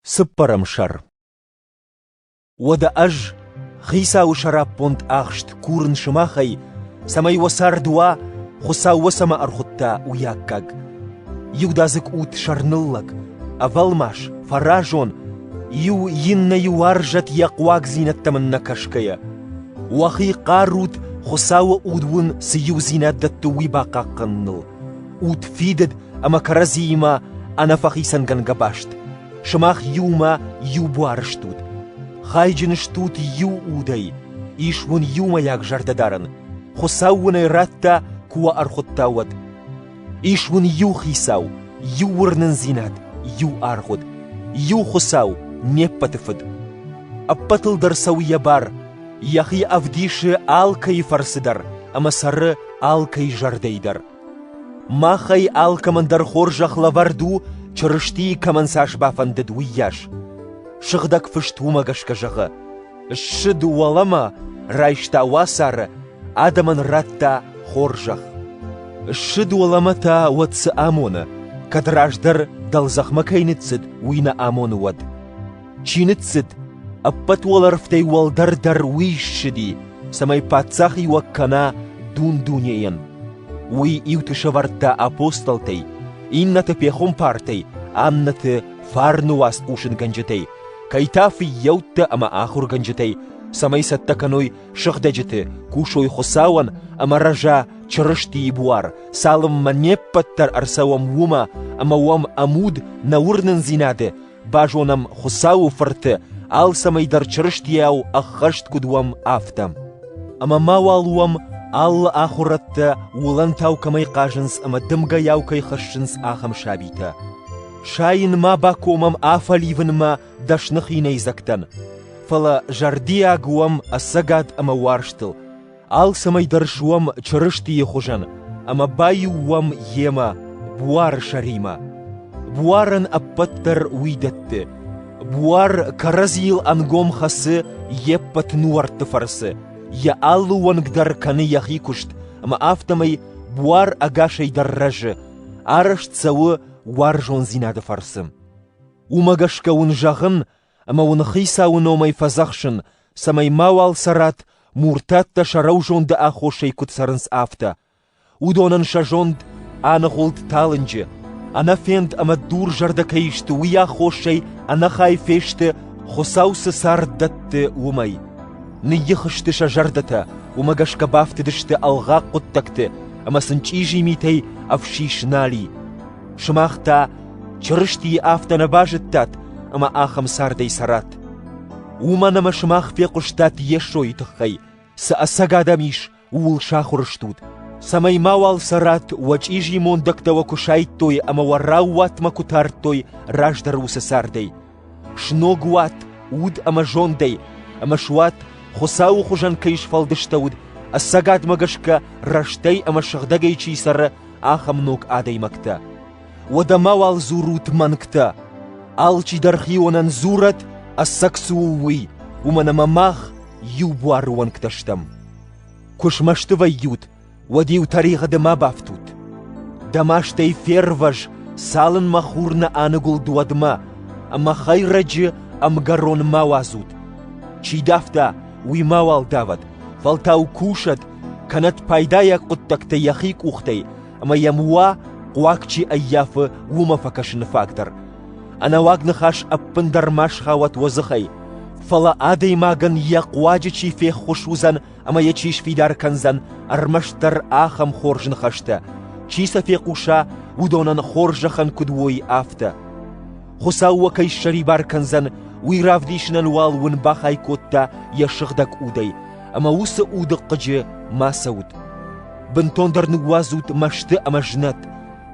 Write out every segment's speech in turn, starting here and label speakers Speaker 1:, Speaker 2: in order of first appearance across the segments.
Speaker 1: Цыппӕрӕм сӕр Уӕдӕ ӕз, Хицауы сӕраппонд ӕхст курын сымахӕй, цӕмӕй уӕ цард уа, Хуыцау уӕ цӕмӕ ӕрхуыдта, уый аккаг. Иудадзыг ут сӕрныллӕг, ӕвӕлмас, фӕразон, иу иннӕйы уарзӕт йӕ хъуагдзинӕдтӕм ын нӕ кӕсгӕйӕ. Уӕхи хъарут Хуыцауы уд уын цы иудзинад дӕтты, уый бахъахъхъӕныныл. удфидыд ӕмӕ кӕрӕдзиимӕ ӕнӕфӕхицӕнгӕнгӕ баст. Сымах иумӕ иу буары стут. Хайджын стут иу удӕй, ис уын иумӕйаг зӕрдӕдарын. Хуыцау уын ӕй радта, куы уӕ ӕрхуыдта, уӕд. Ис уын иу хицау, иу уырнындзинад, иу аргъуыд, иу Хуыцау, не ппӕты фыд. Ӕппӕтыл дӕр цӕуы йӕ бар, йӕхи ӕвдисы алкӕйы фӕрцы дӕр ӕмӕ цӕры алкӕйы зӕрдӕйы дӕр. Махӕй алкӕмӕн дӕр хорзӕх лӕвӕрд у, Чырыстийы кӕмӕн цас бафӕндыд, уыйас. Сыгъдӕг Фыст уымӕ гӕсгӕ зӕгъы: «Ссыд уӕлӕмӕ, райста уацары, адӕмӕн радта хорзӕх». Ссыд уӕлӕмӕ та уӕд цы амоны, кӕд раздӕр дӕлдзӕхмӕ кӕй ныццыд, уый нӕ амоны уӕд. чи ныццыд, ӕппӕт уӕлӕрвтӕй уӕлдӕр дӕр уый ссыди, цӕмӕй паддзахиуӕг кӕна дун-дунейӕн. Уый иуты сӕвӕрдта апостолтӕй, иннӕты пехуымпартӕй, аннӕты фарны уац хъусынгӕнджытӕй, кӕй та фыййӕуттӕ ӕмӕ ахуыргӕнджытӕй, цӕмӕй цӕттӕ кӕной сыгъдӕджыты, кусой Хуыцауӕн ӕмӕ рӕза Чырыстийы буар, цалынмӕ не ппӕт дӕр ӕрцӕуӕм уымӕ ӕмӕ уӕм ӕмуд нӕ уырнындзинады Базонӕм Хуыцауы Фырты алцӕмӕй дӕр Чырыстийау ӕххӕст куыд уӕм, афтӕ. Ӕмӕ ма уал уӕм алы ахуырӕдтӕ, уылӕнтау кӕмӕй хъазынц ӕмӕ дымгӕйау кӕй хӕссынц, ахӕм сабитӕ. Сайын ма бакомӕм афӕливынмӕ дӕсны хинӕйдзӕгтӕн, фӕлӕ зӕрдиаг уӕм ӕцӕгад ӕмӕ уарзтыл, Алцӕмӕй дӕр суӕм Чырыстийы хуызӕн ӕмӕ баиу уӕм йемӕ, буары сӕримӕ. Буарӕн ӕппӕт дӕр уый дӕтты. Буар кӕрӕдзийыл ӕнгом хӕцы йе ппӕт нуӕртты фӕрцы, йӕ алы уӕнг дӕр кӕны йӕхи куыст, ӕмӕ афтӕмӕй буар ӕгасӕй дӕр рӕзы, арӕзт цӕуы уарзондзинады фӕрцы. Уымӕ гӕсгӕ уын зӕгъын, ӕмӕ уын Хицауы номӕй фӕдзӕхсын, цӕмӕй мауал цӕрат, муртаттӕ сӕ рӕузонды аххосӕй куыд цӕрынц, афтӕ. Уыдонӕн сӕ зонд аныгъуылд талынджы, ӕнӕфенд ӕмӕ дурзӕрдӕ кӕй сты, уый аххосӕй ӕнӕхай фесты, Хуыцау цы цард дӕтты, уымӕй. Ныййих сты сӕ зӕрдӕтӕ, уымӕ гӕсгӕ бафтыдысты ӕлгъаг хъуыддӕгты ӕмӕ сын чъизи митӕй ӕфсис нал и. Сымах та Чырыстийы афтӕ нӕ базыдтат, ӕмӕ ахӕм цардӕй цӕрат. Уымӕн ӕмӕ сымах фехъуыстат Йесойы тыххӕй, цы ӕцӕг адӕм ис, ууыл сахуыр стут, цӕмӕй мауал цӕрат, уӕ чъизи мондӕгтӕ уӕ куы сайдтой ӕмӕ уӕ раууатмӕ куы тардтой раздӕр уыцы цардӕй, Сног уат уд ӕмӕ зондӕй, ӕмӕ суат, Хуыцауы хуызӕн кӕй сфӕлдыстӕуыд, ӕцӕгадмӕ гӕсгӕ рӕстӕй ӕмӕ сыгъдӕгӕй чи цӕры, ахӕм ног адӕймӕгтӕ. Уӕдӕ мауал дзурут мӕнгтӕ. Алчидӕр хионӕн дзурӕд, ӕцӕг цы у, уый, уымӕн ӕмӕ мах иу буары уӕнгтӕ стӕм. Куы смӕсты вӕййут, уӕд-иу тӕригъӕды ма бафтут. Дӕ мастӕй фервӕз, цалынмӕ хур нӕ аныгуылд уӕдмӕ, ӕмӕ хӕйрӕджы ӕмгӕрон ма уадзут. Чи давта, уый мауал давӕд, фӕлтау кусӕд, кӕнӕд пайдайаг хъуыддӕгтӕ йӕхи къухтӕй, ӕмӕ йӕм уа, хъуаг чи ӕййафы, уымӕ фӕкӕсыны фаг дӕр. Ӕнӕуаг ныхас ӕппындӕр ма схауӕт уӕ дзыхӕй, фӕлӕ адӕймагӕн йӕ хъуаджы чи феххуыс уыдзӕн, ӕмӕ йӕ чи сфидар кӕндзӕн ӕрмӕстдӕр ахӕм хорз ныхӕстӕ, чи сӕ фехъуса, уыдонӕн хорзӕхӕн куыд уой, афтӕ. Хуыцау уӕ кӕй ссӕрибар кӕндзӕн, уый равдисынӕн уал уын бахай кодта йӕ сыгъдӕг удӕй, ӕмӕ уыцы уды хъыджы ма цӕут. Бынтондӕр ныууадзут мӕсты ӕмӕ знӕт,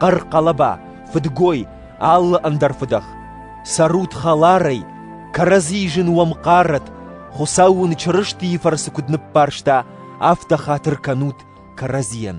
Speaker 1: хъӕр хъӕлӕба, фыдгой алы ӕндӕр фыдӕх. Цӕрут хӕларӕй, кӕрӕдзийы зын уӕм хъарӕт, Хуыцау уын Чырыстийы фӕрцы куыд ныббарста, афтӕ хатыр кӕнут кӕрӕдзийӕн.